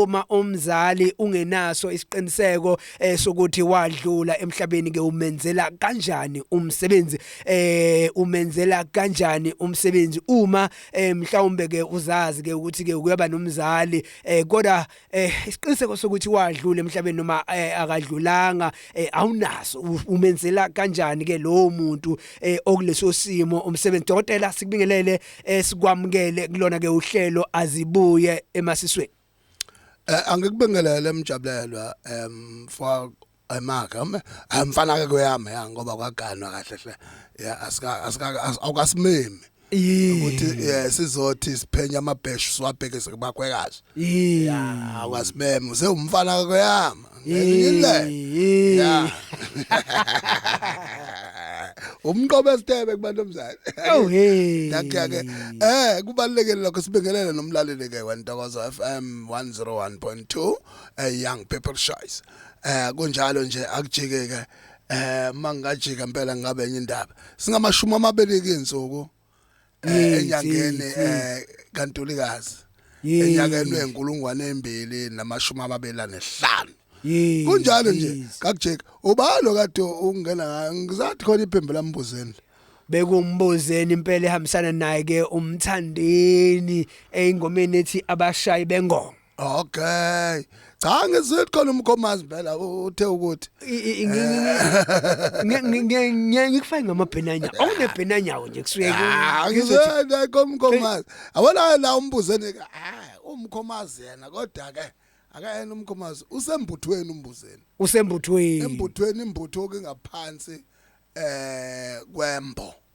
uma umzali ungenaso isiqiniseko eh, sokuthi wadlula emhlabeni ke umenzela kanjani umsebenzi eh umenzela kanjani umsebenzi uma eh, mhlawumbe ke uzazi ke ukuthi ke kuyaba nomzali eh kodwa eh isiqiniseko sokuthi wadlula emhlabeni noma eh, akadlulanga eh, awunaso umenzela kanjani ke lo muntu eh, okuleso simo umsebenzi dokotela sikubingelele eh, sikwamukele kulona ke uhlelo azibuye emasisweni eh, angikubingelele mjabulelwa em for ayimake amfana ke kweyami ya ngoba kwaganwa kahle hle ya asika asika awukasimemi ukuthi eh, sizothi siphenya amabheshu siwabhekise kubakhwekazi yeah awukasimemi sewumfana kweyami ngilile yeah umqobo esitebe kubantu omzali oh hey yakhe ke eh kubalekele lokho sibingelele nomlaleli ke wentokozo FM 101.2 a young people choice eh kunjalo nje akujikeke eh mangajika impela ngabe enye indaba singamashumi amabili ke insuku eh, enyangeni eh kantulikazi enyakeni wenkulungwane embili namashumi amabili anehlanu kunjalo nje kakujeka ubalo kade ungena ngizathi khona iphembe lambuzeni bekumbuzeni impela ehambisana naye ke umthandeni eyingomeni ethi abashayi bengoma Okay. Cha ngizwile khona umkhomazi phela uthe ukuthi ngeke ngikufake ngamabhenanya. Awunebhenanya nje kusuke ah, ngizwile komkhomazi. Awona la umbuzeni ka ah, umkhomazi yena kodwa ke akayena umkhomazi usembuthweni umbuzeni. Usembuthweni. Embuthweni imbutho ke ngaphansi eh kwembo.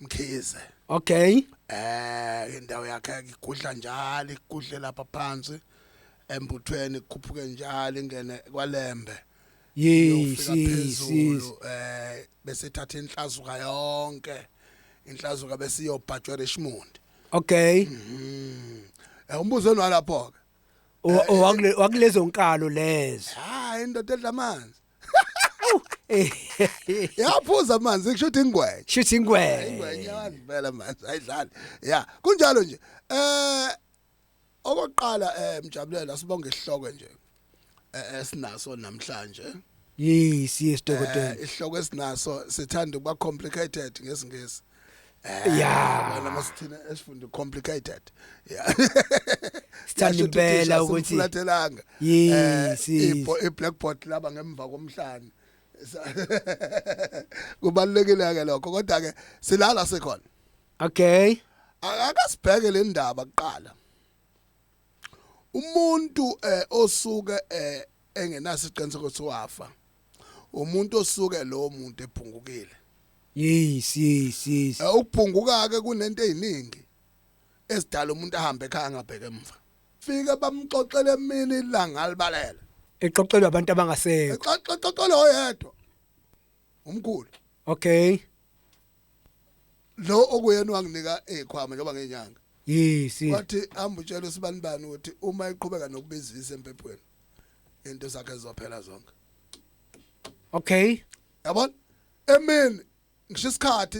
Mkhize okay eh indawo yakhe ikudla njalo ikudle lapha phansi embuthweni kukhuphuke njalo ingene kwalembe yes yes eh bese thatha inhlazuka yonke inhlazuka bese iyobhajwa Richmond okay mhm eh, umbuzo nalapho ke eh, eh, wakulezo nkalo lezo hayi indoda edla amanzi yaphuza amanzi kusho ukuthi ingwenya shuthi ingwenya ingwenya wazibela amanzi ayidlali ya kunjalo nje eh okokuqala eh mjabulela sibonge isihloko nje eh, esinaso namhlanje yes yes dokotela Eh, isihloko esinaso sithanda ukuba complicated ngesingisi Eh, yeah wena masithina esifunda complicated yeah sithanda impela ukuthi fulathelanga yes eh, i blackboard laba ngemva komhlanje kubalekile ke lokho kodwa ke silala sekhona okay akasibheke le ndaba kuqala umuntu eh osuke eh engenaso iqiniseko ukuthi wafa umuntu osuke lo muntu ephungukile yes yes yes eh, ukubhunguka ke kunento eziningi esidala umuntu ahambe ekhaya angabheke emva fike bamxoxele mina ilanga libalele exoxelwa abantu abangasekho exoxelwa oyedwa umkhulu okay lo okuyena wanginika ekhwama njengoba ngenyanga yes wathi hamba utshela usibani bani ukuthi uma iqhubeka nokubizisa empephweni into zakhe zizophela zonke okay yabona emini ngisho isikhathi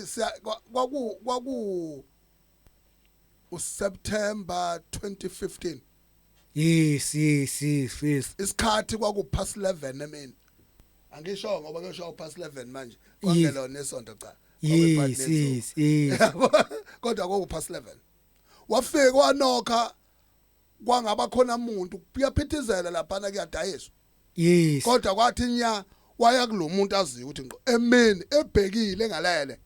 kwaku kwaku uSeptember 2015 yes yes yes yes isikhathi kwaku past 11 emini angisho ngoba kusho past 11 manje kwangelona isonto cha yes yes yes kodwa kwaku past 11 wafika wanokha kwangaba khona umuntu kuyaphithizela laphana kuyadayiswa yes kodwa kwathi nya waya kulomuntu aziyo ukuthi ngo emini ebhekile ngalele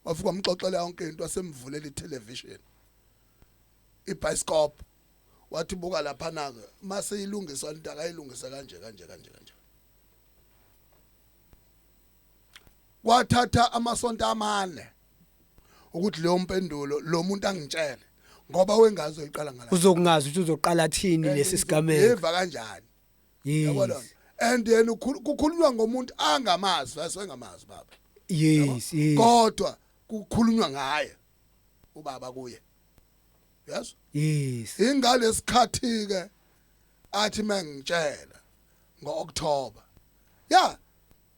wafika wamxoxela yonke into asemvulela itelevision ibhayisikop wathi buka lapha nake mase ilungiswa into akayilungise kanje kanje kanje kanje kwathatha amasonto amane ukuthi leyo mpendulo lo muntu angitshele ngoba wengazi uyiqala ngala uzokungazi ukuthi uzoqala thini lesi sigameko yeva kanjani yabona yes and yena ukhulu- kukhulunywa ngomuntu angamazi asengamazi baba yes yes kodwa kukhulunywa ngaye ubaba kuye yes yes ingalesikhathi ke athi mengitshela ngoOctober ya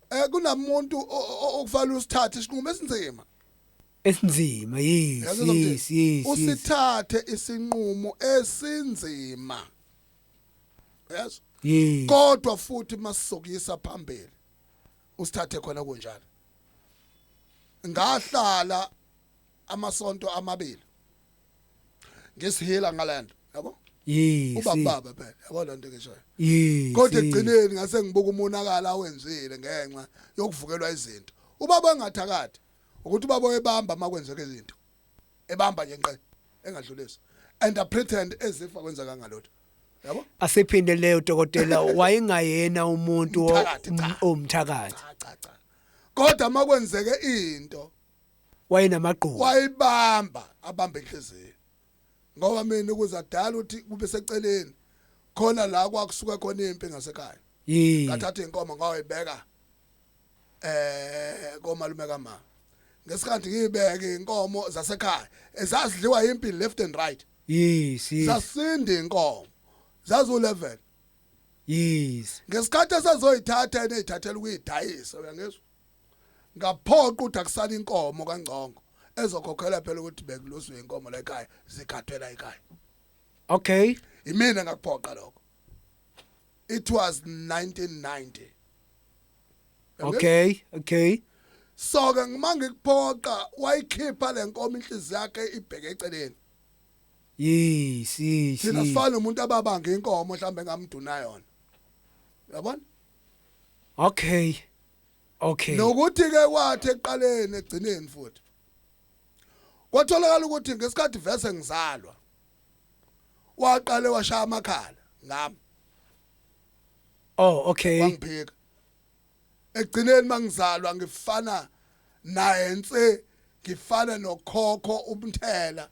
eh kunamuntu o- o- o- okufanele usithathe isinqumo esinzima esinzima yes Yazi yes yes, yes usithathe isinqumo esinzima yes yes kodwa futhi masizokuyisa phambili usithathe khona kunjalo ngahlala amasonto amabili ngisihila ngalento yabo yes uba baba phela yabo lento ngishoyo yes kodwa egcineni ngase ngibuka umonakala awenzile ngenxa yokuvukelwa izinto ubaba engathakathi ukuthi ubaba oyebamba makwenzeka izinto ebamba nje nqe engadlulisa and a pretend as if akwenza kangalotho yabo asiphinde leyo dokotela wayengayena umuntu omthakathi cha cha cha kodwa makwenzeke into wayenamagqubu wayibamba abambe inhliziyo ngoba mina ukuze adala ukuthi kube seceleni khona la kwakusuka khona impi ngasekhaya ngathatha inkomo ngawayibeka eh komalume kama ngesikhathi ngibeke inkomo zasekhaya ezazidliwa impi left and right yes yes zasinde inkomo zazu level yes ngesikhathi esazoyithatha eneyithathela ukuyidayisa uyangizwa ngaphoqa ukuthi akusala inkomo kangcongo ezokhokhela phela ukuthi bekuluswe inkomo la ekhaya zikhathela ekhaya okay imina ngakuphoqa lokho it was 1990 okay okay so ke ngima ngikuphoqa wayikhipha lenkomo inhliziyo yakhe ibheke eceleni yes yes thina sifana umuntu ababange inkomo mhlawumbe ngamduna yona yabona okay okay nokuthi ke kwathi eqaleni egcineni futhi kwatholakala ukuthi ngesikhathi vese ngizalwa waqale washaya amakhala ngami oh okay wangiphika ekugcineni mangizalwa ngifana naye nse ngifana nokhokho umthela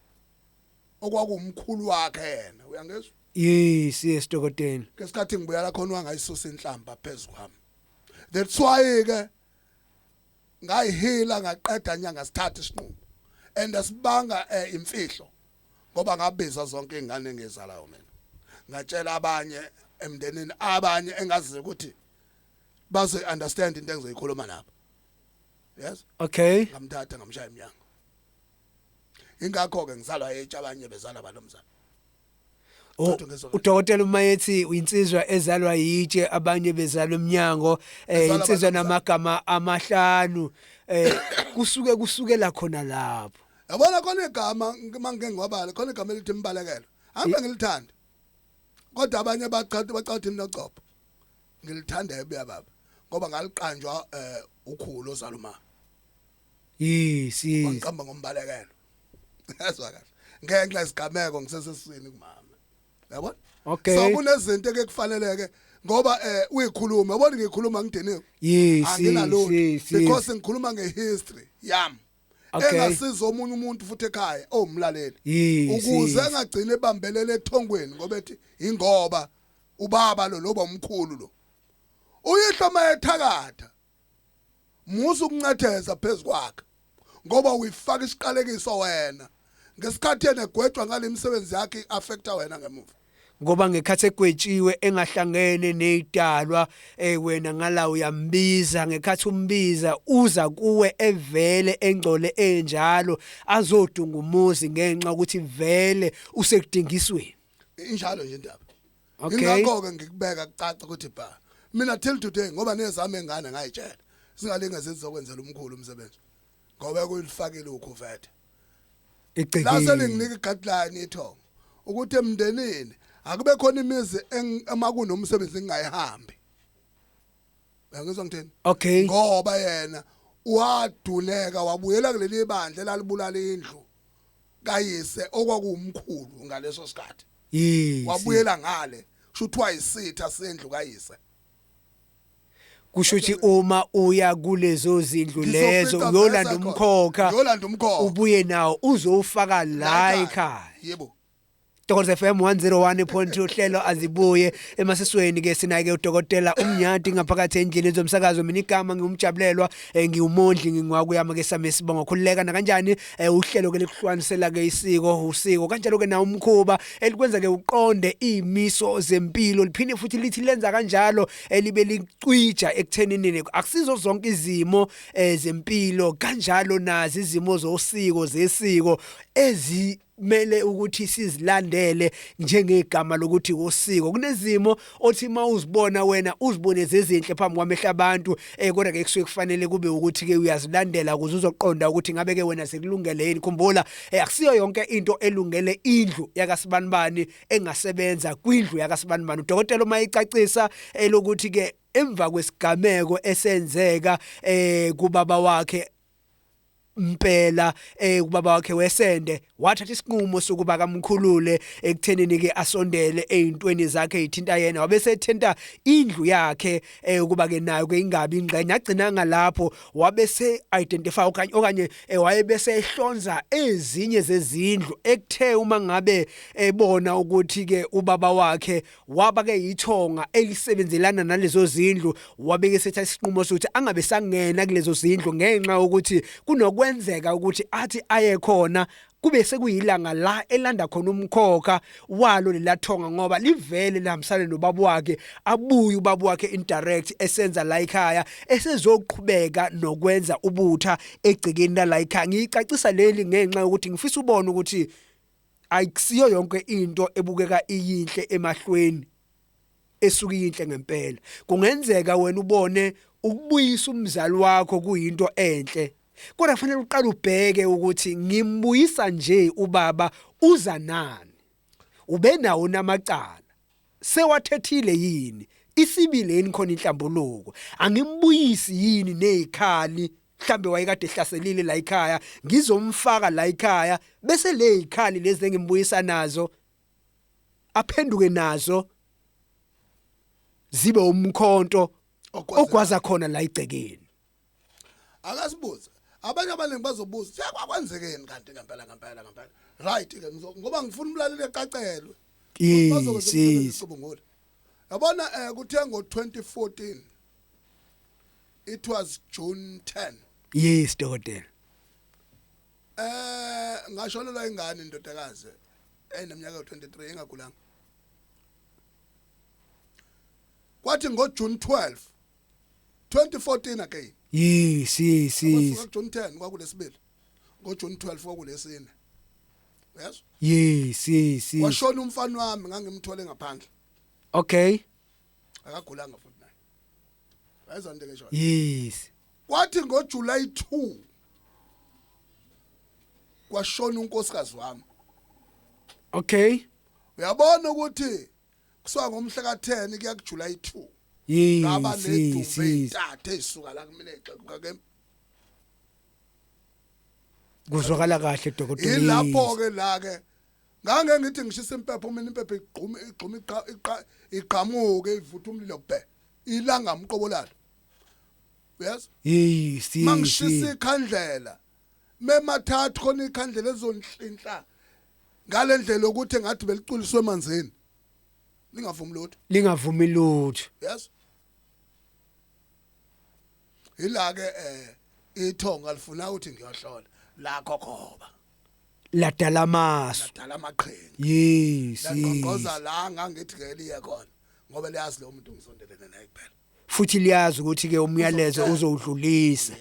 okwakumkhulu wakhe yena uyangezwa yes yes dokotela ngesikhathi ngibuya la khona wangayisusa inhlamba phezulu kwami that's why ke ngayihila ngaqeda nyanga sithathe isinqumo and asibanga eh, imfihlo ngoba ngabiza zonke izingane engizalayo mina ngatshela abanye emndenini abanye engazi ukuthi bazo understand into engizoyikhuluma lapha yes okay ngamthatha ngamshaya emnyango ingakho ke ngizalwa etsha abanye bezala balomzana Oh, udokotela uma yethi uyinsizwa ezalwa yitshe abanye bezalwa emnyango eh insizwa namagama amahlanu eh kusuke kusukela khona lapho yabona khona igama mangike ngiwabale khona igama elithi imbalekelo angibe mm. ngilithanda kodwa abanye baqhathi baqhathi mina copho ngilithanda ebuya baba ngoba ngaliqanjwa eh ukhulu ozaluma yes yes waqamba ngombalekelo yazwa kahle ngenxa isigameko ngisesesini kumama yabona okay so kunezinto ke kufaneleke ngoba eh uyikhuluma yabona ngikhuluma ngidiniwe yes yes because ngikhuluma ngehistory yami Okay. engasiza omunye umuntu futhi ekhaya owumlaleli Yes, ukuze yes. engagcine ebambelele ethongweni ngoba ethi ingoba ubaba lo loba umkhulu lo uyihlo mayethakatha musa ukuncatheza phezu kwakhe ngoba uyifaka isiqalekiso wena ngesikhathi yena egwetshwa ngale misebenzi yakhe i-affecta wena ngemuva ngoba ngekhathi egwetshiwe engahlangene nezidalwa eh wena ngala uyambiza ngekhathi umbiza uza kuwe evele engcole enjalo azodunga umuzi ngenxa ukuthi vele usekudingisweni injalo nje indaba okay ingakho ke ngikubeka kucaca ukuthi bha mina till today ngoba nezami engane ngayitshela singalinge zizokwenzela umkhulu umsebenzi ngoba kuyifakile ukhuvethe igcekile lase linginika igadline ithongo ukuthi emndenini akube khona imizi emakunomsebenzi engayihambi uyangizwa ngithini okay ngoba yena waduleka wabuyela kuleli bandla elalibulala indlu kayise okwakuwumkhulu ngaleso sikhathi wabuyela ngale kusho ukuthi wayisitha sendlu kayise kusho ukuthi uma uya kulezo zindlu lezo uyolanda umkhokha uyolanda umkhokha ubuye nawo uzowufaka la ekhaya yebo Dokotela FM 101.2 uhlelo azibuye emasisweni ke sina ke udokotela umnyati ngaphakathi endlini zomsakazo mina igama ngiwumjabulelwa eh, ngiwumondli ngingwaku yama ke sami sibonga khululeka na kanjani eh, uhlelo ke likuhlukanisela ke isiko usiko kanjalo ke na umkhuba elikwenza ke uqonde imiso zempilo liphinde futhi lithi lenza kanjalo elibe licwija ekuthenini akusizo zonke izimo eh, zempilo kanjalo nazi izimo zosiko zesiko ezi kumele ukuthi sizilandele njengegama lokuthi usiko kunezimo othi uma uzibona wena uzibone zezinhle phambi kwamehla abantu eh kodwa ke kusuke kufanele kube ukuthi ke uyazilandela ukuze uzoqonda ukuthi ngabe ke wena sekulungele yini khumbula eh akusiyo yonke into elungele indlu yakasibanibani engasebenza kwindlu yakasibanibani udokotela uma icacisa elokuthi eh, ke emva kwesigameko esenzeka eh kubaba wakhe impela eh ubaba wakhe wesende wathatha isinqumo sokuba kamkhulule ekuthenini ke asondele ezintweni zakhe ithinta yena wabe sethenta indlu yakhe eh ukuba ke nayo ke ingabi ingxenye agcina ngalapho wabe se identify okanye okanye eh, wayebe sehlonza ezinye zezindlu ekuthe uma ngabe ebona ukuthi ke ubaba wakhe waba ke yithonga elisebenzelana nalezo zindlu wabeke setha isinqumo sokuthi angabe sangena kulezo zindlu ngenxa ukuthi kunokwenzeka ukuthi athi aye khona kube sekuyilanga la elanda khona umkhokha walo lelathonga ngoba livele lihambisane nobaba wakhe abuye ubaba wakhe indirect esenza la ekhaya esezoqhubeka nokwenza ubutha egcikeni la ekhaya ngicacisa leli ngenxa yokuthi ngifisa ubone ukuthi ayikusiyo yonke into ebukeka iyinhle emahlweni esuke iyinhle ngempela kungenzeka wena ubone ukubuyisa umzali wakho kuyinto enhle kodwa kufanele uqale ubheke ukuthi ngimbuyisa nje ubaba uza nani ubenawo namacala sewathethile yini isibile yini khona inhlambuluko angimbuyisi yini nezikhali mhlambe wayekade ehlaselile la ekhaya ngizomfaka la ekhaya bese le ikhali lezi engimbuyisa nazo aphenduke nazo zibe umkhonto ogwaza khona la igcekeni akasibuze abanye abaningi bazobuza cha kwakwenzekeni kanti ngempela ngempela ngempela right ke ngoba ngifuna umlaleli eqacelwe yes yabona eh kuthe ngo 2014 it was june 10 yes dokotela eh ngashonelwa ingane indodakazi eneminyaka 23 engagulanga kwathi ngo June 12 2014 again yes yes yes June 10 kwakulesibili ngo June 12 kwakulesine yes yes yes washona umfana wami ngangimthole ngaphandle okay akagulanga futhi ayizwa into engisho yes kwathi ngo July 2 kwashona unkosikazi wami okay uyabona ukuthi kusuka ngomhla ka 10 kuya ku July 2 yes ngaba nedumbe itathe isuka la kumina exekuka ke kuzwakala kahle dokotela ilapho ke la ke ngange ngithi ngishisa impepho mina impepho igquma igquma iqa igqamuke ivutha umlilo bhe ilanga mqobolala yes hey si mangishisa ikhandlela memathathu khona ikhandlela ezonhlinhla ngalendlela ukuthi ngathi beliculiswe emanzini lingavumi lutho lingavumi lutho yes ila ke eh ithonga lifuna ukuthi ngiyohlola la kokhoba ladala amasu ladala amaqhinga yes laqonqoza la ngangithi ke liye khona ngoba liyazi lo muntu ngisondelene naye kuphela futhi liyazi ukuthi ke umyalezo uzowudlulisa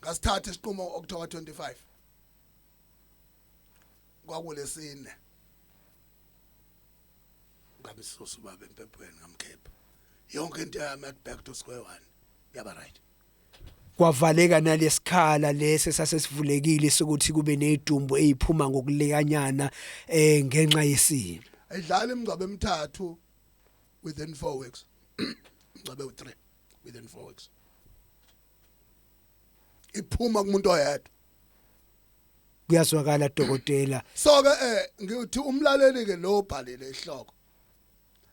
ngasithatha isiqumo okuthiwa 25 kwakulesine ngamsusa ubaba empepweni ngamkhipha yonke into yami at back to square one yaba right Kwavaleka nalesikhala lesi sasesivulekile sokuthi kube nezidumbu eziphuma ngokulekanyana eh ngenxa yesimo. Ayidlala imingcwabo emithathu within 4 weeks. Mngcwabe u3 within 4 weeks. Iphuma kumuntu oyedwa. Kuyazwakala dokotela. So ke eh ngithi umlaleli ke lo bhalile ihloko.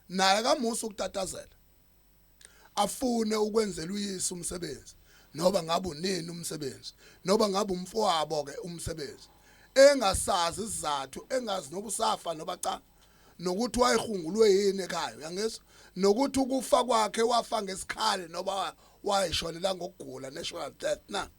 naye akamusa ukutatazela afune ukwenzela uyise umsebenzi noba ngabe unini umsebenzi noba ngabe umfowabo ke umsebenzi engasazi isizathu engazi noba usafa noba cha nokuthi wayehungulwe yini ekhaya uyangizwa nokuthi ukufa kwakhe wafa ngesikhali noba wayeshonela ngokugula natural death na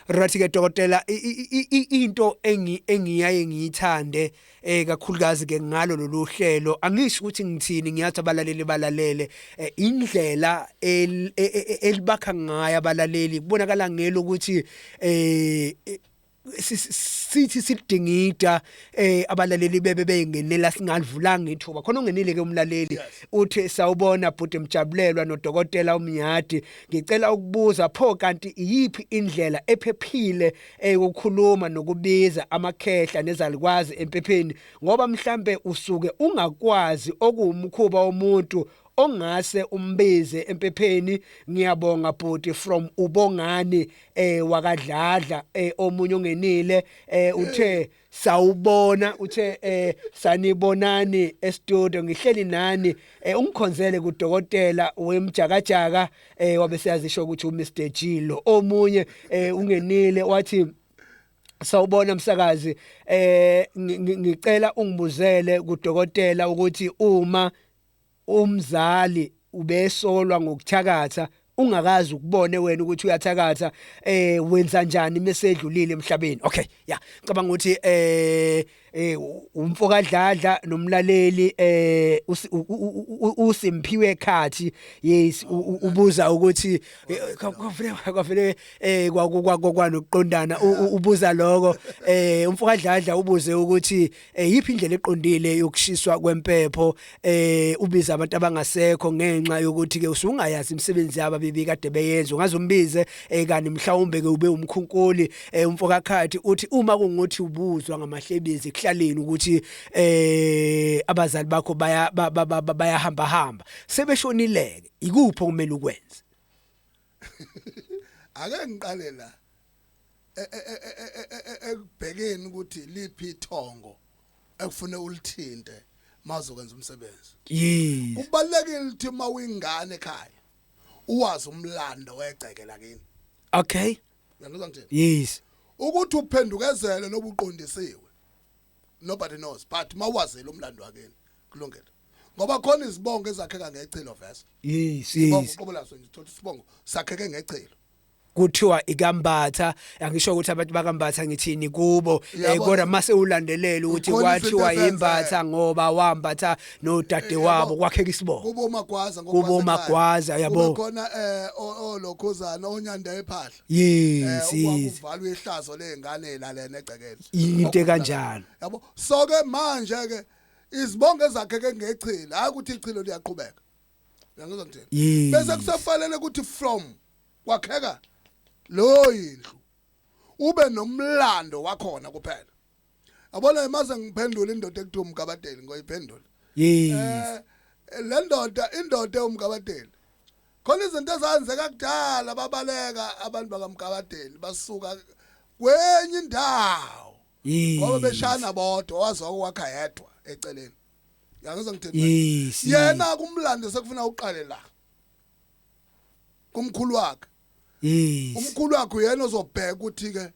Right ke dokotela into engi engiyaye ngiyithande eh kakhulukazi ke ngalo lolu hlelo angisho ukuthi ngithini ngiyathi abalaleli balalele eh, indlela e, e, e, elibakha ngayo abalaleli kubonakala ngelo ukuthi eh sithi sidingida eh abalaleli bebe bengenela singalivulanga ithuba khona ungenile ke umlaleli uthi sawubona bhuti mjabulelwa nodokotela umnyadi Ngicela ukubuza pho kanti iyiphi indlela ephephile eyokukhuluma nokubiza amakhehla nezalikwazi empepheni ngoba mhlambe usuke ungakwazi okuwumkhuba womuntu ongase umbize empepheni ngiyabonga bhuti from ubongani eh wakadladla eh omunye ongenile eh uthe sawubona uthe eh sanibonani estudio ngihleli nani eh ungikhonzele kudokotela wemjakajaka eh wabe siyazisho ukuthi uMr Jilo omunye eh ungenile wathi sawubona msakazi eh ngicela ungibuzele kudokotela ukuthi uma Umzali ubesolwa ngokuthakatha ungakazi ukubone wena ukuthi uyathakatha eh wenza njani mesedlulile emhlabeni okay yeah cabanga ukuthi eh eh umfoka dladla nomlaleli eh usimphiwe khathi yes ubuza ukuthi kwavele kwavele eh kwanokuqondana ubuza lokho eh umfoka dladla ubuze ukuthi eyiphi eh, indlela eqondile yokushiswa kwempepho eh ubiza abantu abangasekho ngenxa yokuthi ke usungayazi imisebenzi yabo bibika kade beyenza ungazumbize eh kanti mhlawumbe ke ube umkhunkuli eh umfokakhathi uthi uma kunguthi ubuzwa ngamahlebezi kuhlaleni ukuthi eh abazali bakho baya bayahamba hamba sebeshonileke ikuphi okumele ukwenze ake ngiqale la ekubhekeni ukuthi liphi ithongo ekufune ulithinte mazokwenza umsebenzi yes kubalekile ukuthi uma uyingane ekhaya uwazi umlando wegceke lakini okay uyangizwa ngithini yes ukuthi uphendukezele nobuqondisiwe nobody knows but mawazile umlando wakini kulungile ngoba khona izibongo ezakheka ngecelo vese yes yes qobo laso ngithola isibongo sakheke ngecelo kuthiwa ikambatha angisho ukuthi abantu bakambatha ngithini kubo eh, kodwa mase ulandelela ukuthi kwathiwa imbatha ngoba wambatha nodade eh, wabo kwakheka isibongo kubo magwaza kubo magwaza yabo khona eh olokhuzana onyanda ephahla yes eh, yes uvalwe ihlazo lezingane la lena egcekeni into kanjalo yabo so ke manje ke izibongo ezakheke ngechilo hayi ukuthi ichilo liyaqhubeka uyangizwa ngithini Yes. bese kusafanele ukuthi from kwakheka leyo yindlu ube nomlando wakhona kuphela yabona imaze ngiphendula indoda ekuthiwa umgabadeli ngoyiphendula yes Eh, le ndoda indoda ewumgabadeli khona izinto ezenzeka kudala babaleka abantu bakamgabadeli basuka kwenye indawo Yes. Ngoba beshana bodwa wazwa ukwakha yedwa eceleni. Yangizwa ngithini? Yes. Yena kumlando sekufuna uqale la. Kumkhulu wakhe. Yes. Umkhulu wakhe uyena ozobheka ukuthi ke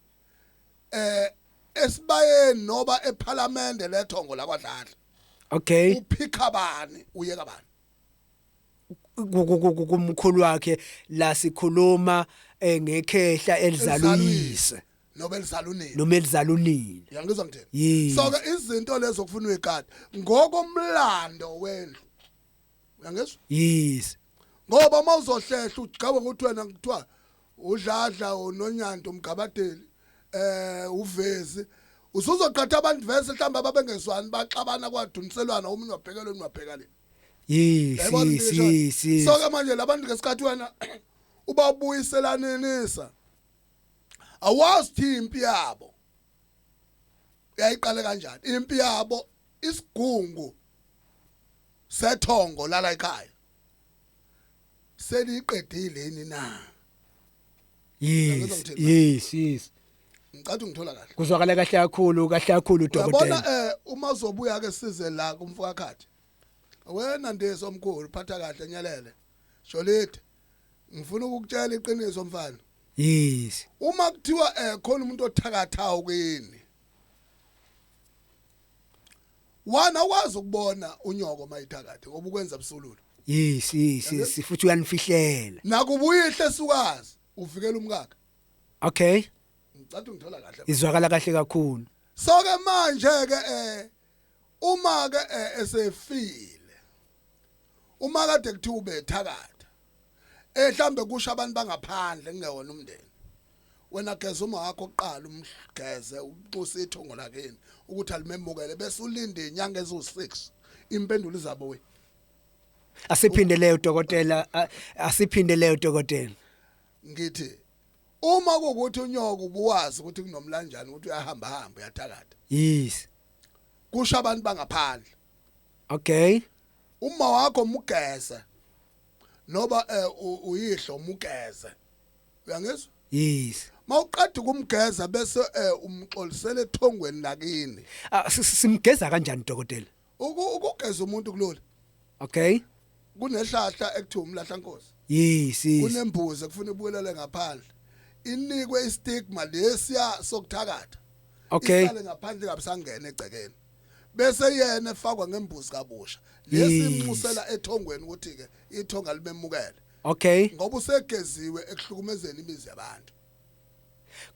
eh esibayeni noba ephalamende lethongo lakwadlala. Okay. Uphikha bani uyeka bani? kumkhulu wakhe la sikhuluma eh, ngekhehla elizaluyise nobelizalunile nomelizalunile yangizwa ngithini Yes. so ke izinto lezo okufuna uyikade ngokomlando wendlu uyangizwa yes ngoba uma uzohlehla ugcaba ukuthi wena kuthiwa udladla unonyanda umgabadeli eh uvezi usuzoqatha abantu vese mhlawumbe ababengezwani baxabana kwaduniselwana omunye wabhekela omunye wabheka le yes Yayibona yes into yes eshoyo? yes so ke manje labantu ngesikhathi wena ubabuyiselanisa awazi thi impi yabo uyayiqale kanjani impi yabo isigungu sethongo lala ekhaya seliqedile yini na yes yes yes ngicathu ngithola kahle kuzwakala kahle kakhulu kahle kakhulu dokotela yabona eh uma uzobuya ke size la kumfakakhathi wena ndiso omkhulu phatha kahle nyelele jolide ngifuna ukukutshela iqiniso mfana yes uma kuthiwa eh khona umuntu othakathayo kini wana wazi ukubona unyoko mayithakathe ngoba ukwenza busululu yes yes yes futhi uyanifihlela nakubuyihle sukazi uvikela umkakhe okay ngicathu ngithola kahle izwakala kahle kakhulu so ke manje ke eh Uma ke eh, esefile. Uma kade kuthiwa ubethakatha. Eh mhlambe kusho abantu bangaphandle kungewona umndeni. wena geza uma wakho oqala umgeze uxuse ithongo lakini ukuthi alimemukele bese ulinde inyanga ezu6 impendulo izabo we asiphinde leyo dokotela asiphinde leyo dokotela ngithi uma kukuthi unyoko ubuwazi ukuthi kunomlanjani ukuthi uyahamba hamba uyathakatha yes kusho abantu bangaphandle okay uma wakho mugeze noba eh, uyihlo mugeze uyangizwa yes mawuqeda ukumgeza bese eh, umxolisela ethongweni lakini ah, simgeza kanjani dokotela Uku- ukugeza umuntu kulula okay kunehlahla ekuthiwa umlahla nkosi yes yes kunembuzi ekufuna ibuyelele ngaphandle inikwe istigma lesiya sokuthakatha okay isale ngaphandle kabisangena egcekeni bese yena efakwa ngembuzi kabusha Yes. lesimnxusela ethongweni ukuthi ke ithonga limemukele okay ngoba usegeziwe ekuhlukumezeni imizi yabantu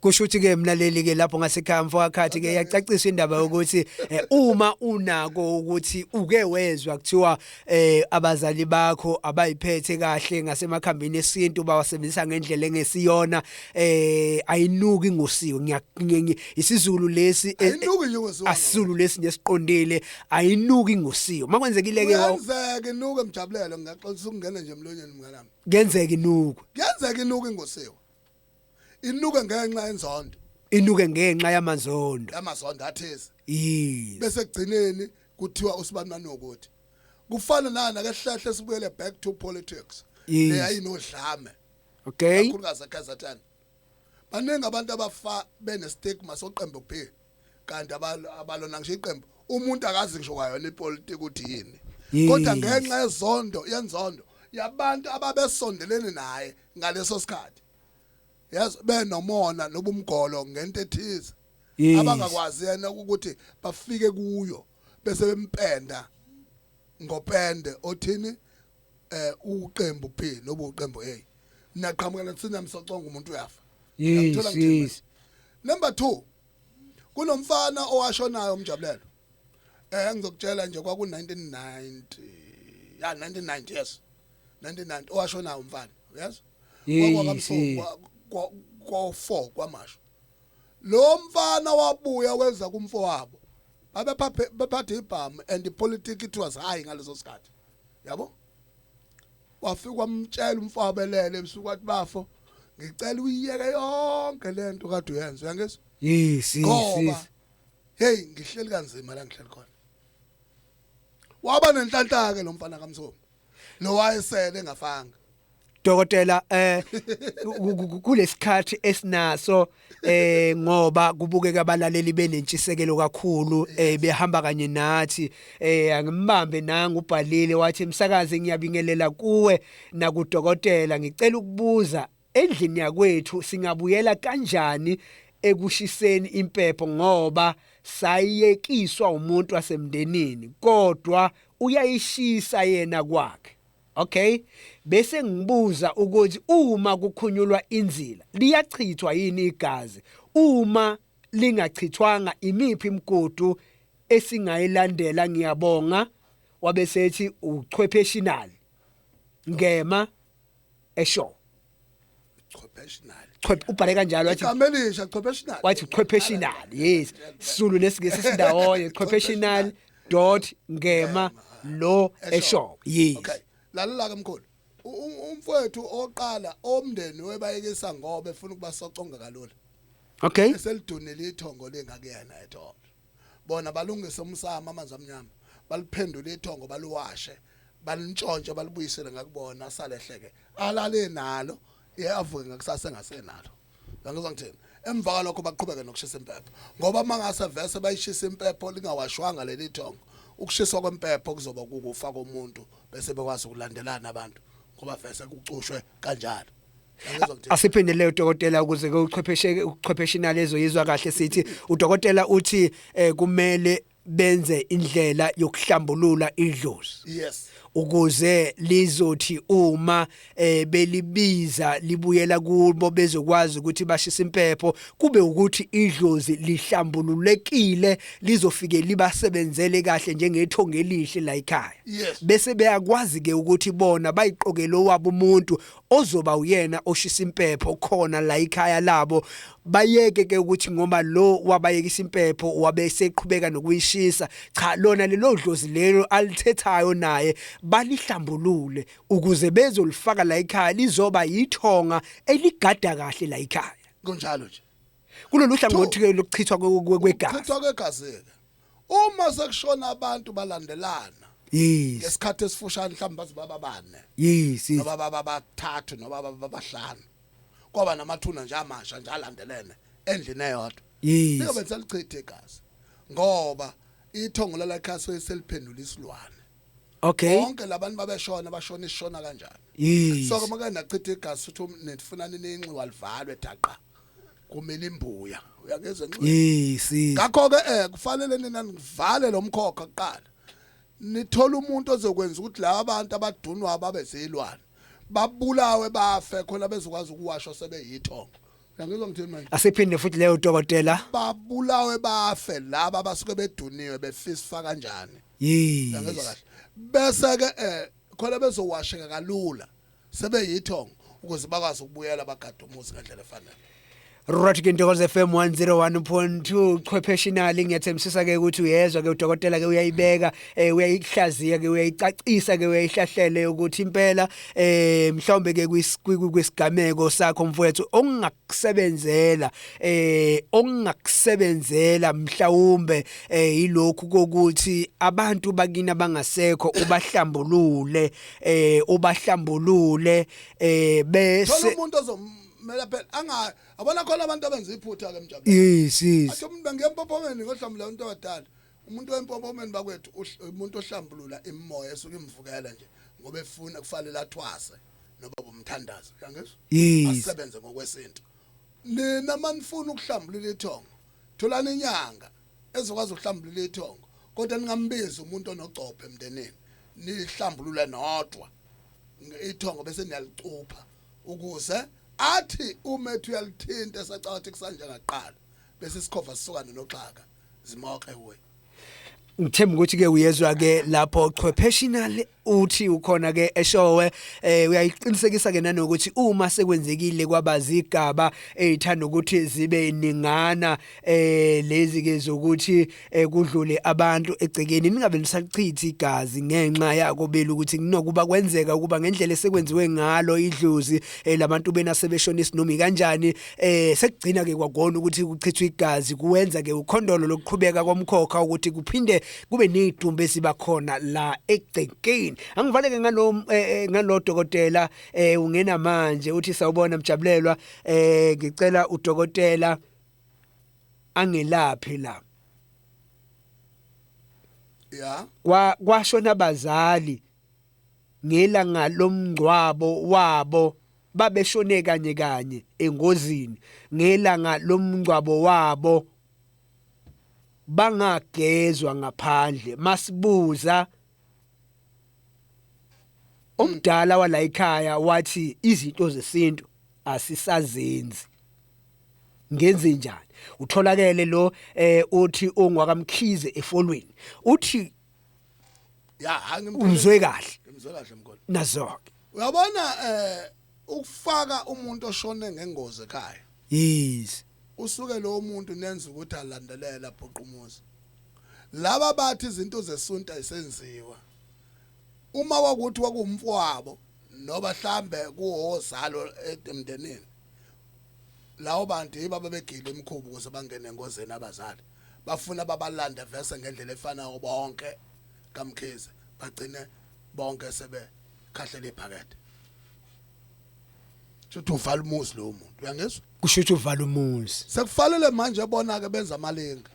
kusho ukuthi ke mlaleli ke lapho ngasekhaya mfowakhathi ke yacacisa indaba yokuthi eh, uma unako ukuthi uke wezwa kuthiwa eh, abazali bakho abayiphethe kahle ngasemakhambini esintu bawasebenzisa ngendlela engesiyona eh ayinuki ngosiwe ngiyakunyenye isizulu lesi eh, ayinuki ngosiwe asizulu lesi ngesiqondile ayinuki ngosiwe makwenzekile ke wenzeke inuke mjabulelo ngiyaxolisa ukungena nje emlonyeni mnganami ngenzeke inuku ngenzeke inuku ngosiwe inuke ngenxa yenzondo inuke ngenxa yamanzondo yamazondo athize yes bese kugcineni kuthiwa usibanani ukuthi kufana nana ke hlahle sibuyele back to politics Yes. leya inodlame okay kakhulukazi eKZN baningi abantu abafa bene stigma soqembu B kanti abalona ngisho iqembu umuntu akazi ngisho kwayona ipolitiki ukuthi yini kodwa ngenxa yezondo yenzondo yabantu ababesondelene naye ngaleso sikhathi yes benomona nobumgolo ngento ethize abangakwazi yena ukuthi bafike kuyo bese bempenda ngopende othini eh uqembu P nobu uqembu A naqhamuka nathina msoconga umuntu uyafa yes yes number 2 kunomfana owashonayo umjabulelo eh ngizokutshela nje kwaku 1990 ya 1990 yes 1990 owashonayo umfana yes kwa kwa 4 kwamasho lo mfana wabuya wenza kumfo wabo babephathe ibhamu and politics it was high ngaleso sikhathi yabo wafika wamtshela umfowabo elele ebusuku wathi bafo ngicela uyiyeke yonke lento kade uyenza uyangizwa yes yes hey ngihleli kanzima la ngihleli khona waba nenhlanhla ke lo mfana kamsomo lo wayesele ngafanga dokotela eh kulesikhathi esinaso eh ngoba kubukeka abalaleli benentshisekelo kakhulu eh behamba kanye nathi eh angimbambe nanga ubhalile wathi msakaze ngiyabingelela kuwe nakudokotela ngicela ukubuza endlini yakwethu singabuyela kanjani ekushiseni impepho ngoba sayekiswa umuntu wasemndenini kodwa uyayishisa yena kwakhe Okay bese ngibuza ukuthi uma kukhunyulwa inzila liyachithwa yini igazi uma lingachithwanga imiphi imigudu esingayilandela ngiyabonga wabesethi uchwepheshinali ngema esho chopeshinal Chop- ubhale kanjalo wathi igama elisha chopeshinal wathi chopeshinal yes sulu lesingesi sindawonye chopeshinal dot ngema lo eshop yes okay lalela ke mkhulu U- u- umfowethu oqala omndeni webayekisa ngoba efuna ukubasoconga kalula okay eselidunile ithongo lengakuyena ethongo bona balungise umsamo amanzi amnyama baliphendule ithongo baluwashe balintshontshe balibuyisele ngakubona salehleke alale nalo iyavuke ngakusasa engasenalo ngizwa ngithini emva kwalokho baqhubeke nokushisa impepho ngoba uma ngase vese bayishisa impepho lingawashwanga leli thongo ukushiswa kwempepho kuzoba kukufa komuntu bese bekwazi ukulandelana abantu ngoba vese kucushwe kanjalo asiphindelele udokotela ukuze ke uchwepheshe uchwepheshe inalezo yizwa kahle sithi udokotela uthi eh, kumele benze indlela yokuhlambulula idlozi yes ukuze lizothi uma eh, belibiza libuyela kubo bezokwazi ukuthi bashisa impepho kube ukuthi idlozi lihlambululekile lizofike libasebenzele kahle njengethonga elihle la ekhaya yes. bese beyakwazi ke ukuthi bona bayiqokele owabo umuntu ozoba uyena oshisa impepho khona la ikhaya labo bayeke ke ukuthi ngoba lo wabayekisa impepho wabe seqhubeka nokuyishisa cha lona lelo dlozi lelo alithethayo naye balihlambulule ukuze bezolifaka la ikhaya lizoba yithonga eligada kahle la ikhaya kunjalo nje kulolu hlangothi lokuchithwa kwegazi chithwa kwegazi uma sekushona abantu balandelana yes ngesikhathi esifushane mhlawumbe baze baba bane yes yes noma baba bathathu noma baba bahlanu kwaba namathuna nje amasha nje alandelene endlini eyodwa yes liyobe selichithe igazi ngoba ithongo lalakhaswe seliphendula isilwane okay bonke labantu babeshona bashona isishona kanjani yes so ke makana chitha igazi futhi um- nifuna nininxi walivalwe daqa kumile imbuya uyangizwa nje hey si ngakho ke eh kufanele nina nivale lo mkhokha kuqala nithola umuntu ozokwenza ukuthi laba bantu abadunwa babe zilwane babulawe bafe khona bezokwazi ukuwashwa sebeyithongo uyangizwa ngithini manje asiphinde futhi leyo dokotela babulawe bafe laba abasuke beduniwe befisfa kanjani yes uyangizwa kahle bese ke eh khona bezowasheka kalula sebeyithongo ukuze bakwazi ukubuyela bagade umuzi ngendlela efanele Right ke Ntokozo FM 101.2 chwepheshinali ngiyathembisisa ke ukuthi uyezwa ke udokotela ke uyayibeka eh uyayihlaziya ke uyayicacisa ke uyayihlahlele ukuthi impela eh mhlawumbe ke kwisigameko sakho mfowethu ongakusebenzela eh ongakusebenzela mhlawumbe eh ilokhu kokuthi abantu bakina bangasekho ubahlambulule eh ubahlambulule eh bese umuntu ozomela phela anga abona khona abantu abenza iphutha ke mjabulani yes yes athi umuntu bangempopomeni ngohlambula umuntu wadala umuntu wempopomeni bakwethu umuntu ohlambulula imimoya esuke imvukela nje ngoba efuna kufanele athwase noba umthandazo yangizwa yes asebenze ngokwesintu nina manifuna ukuhlambulula ithongo tholani inyanga ezokwazi ukuhlambulula ithongo kodwa ningambizi umuntu onogcophe emndenini nihlambulule nodwa ithongo bese niyalicupha ukuze athi uma ethi uyalithinta esacathi kusanje ngaqala bese isikhova sisukane noxhaka zimoke we ngithemba ukuthi ke uyezwa ke lapho chwepheshinal uthi ukhona ke eshowe eh uyayiqinisekisa ke nanokuthi uma sekwenzekile kwaba zigaba ezithanda eh, ukuthi zibe ningana eh lezi ke zokuthi eh, kudlule abantu egcekeni ningabe nisachithi igazi ngenxa yako belu ukuthi kunokuba kwenzeka ukuba ngendlela esekwenziwe ngalo idlozi eh, labantu bena sebeshona isinomi kanjani eh sekugcina ke kwagona ukuthi kuchithwe igazi kuwenza ke ukhondolo lokuqhubeka komkhokha ukuthi kuphinde kube neyidumbe esiba khona la egcekeni angivaleke ngalo eh, eh, ngalo dokotela eh, ungena manje uthi sawubona mjabulelwa eh ngicela udokotela angelaphi la ya kwa kwashona abazali ngelanga lomngcwabo wabo babeshone kanye kanye engozini ngelanga lomngcwabo wabo bangagezwa ngaphandle masibuza umdala wala ekhaya wathi izinto zesintu asisazenzi ngenze njani utholakele lo eh uthi ongwakamkhize efolweni uthi ya hayi ngimzwe kahle ngimzwe kahle mkhona nazoke uyabona eh ukufaka umuntu oshone ngengozi ekhaya yes usuke lo muntu nenza ukuthi alandelela abhuqa umuzi laba bathi izinto zesunta isenziwa uma wakuthi wakumfwabo noba hlambe kuhozalo emndenini lawo bantu yiba babegile imkhubu kuze bangene engozeni abazali bafuna babalande vese ngendlela efanayo bonke kaMkhize bagcine bonke sebe khahlela iphakethe Shuthi uvala umuzi lo muntu uyangizwa kusho ukuthi uvala umuzi sekufanele manje bona ke benza amalinga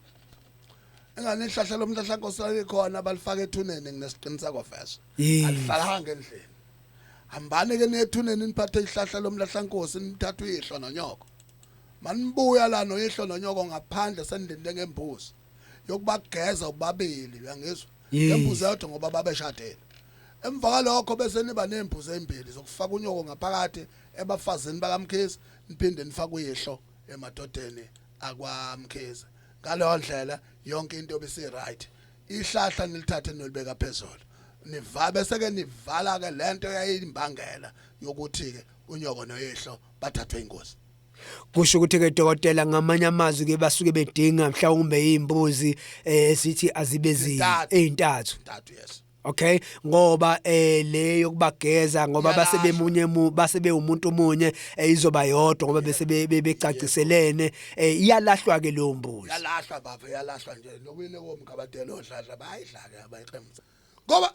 engane ihlahla lomhlahla nkosana likhona balifaka ethuneni nginesiqiniseko vese alifakanga endlini hambani ke nethuneni niphathe ihlahla lomlahla nkosi nithatha uyihlo nonyoko Manibuya la noyihlo nonyoko ngaphandle senilinde ngembuzi yokubageza ubabili uyangizwa ngembuzi yodwa ngoba babeshadile emva kwalokho bese niba nembuzi ezimbili zokufaka unyoko ngaphakathi ebafazini bakamkhize niphinde nifake uyihlo emadodeni akwamkhize ngaleyo ndlela yonke into bisi right ihlahla nilithathe nolibeka phezulu niva bese ke nivala ke lento yayimbangela yokuthi ke unyoko noyihlo bathathwe ingozi kusho ukuthi ke dokotela ngamanye amazwi ke basuke bedinga mhlawumbe izimbuzi eh sithi azibe zi ezintathu yes okay ngoba eh le yokubageza ngoba base bemunye mu base bewumuntu omunye eh, izoba yodwa ngoba bese becaciselene eh, iyalahlwa ke leyo mbuzi yalahlwa baba yalahlwa nje lokuyile komkabadelo odladla bayidlake abayiqemza ngoba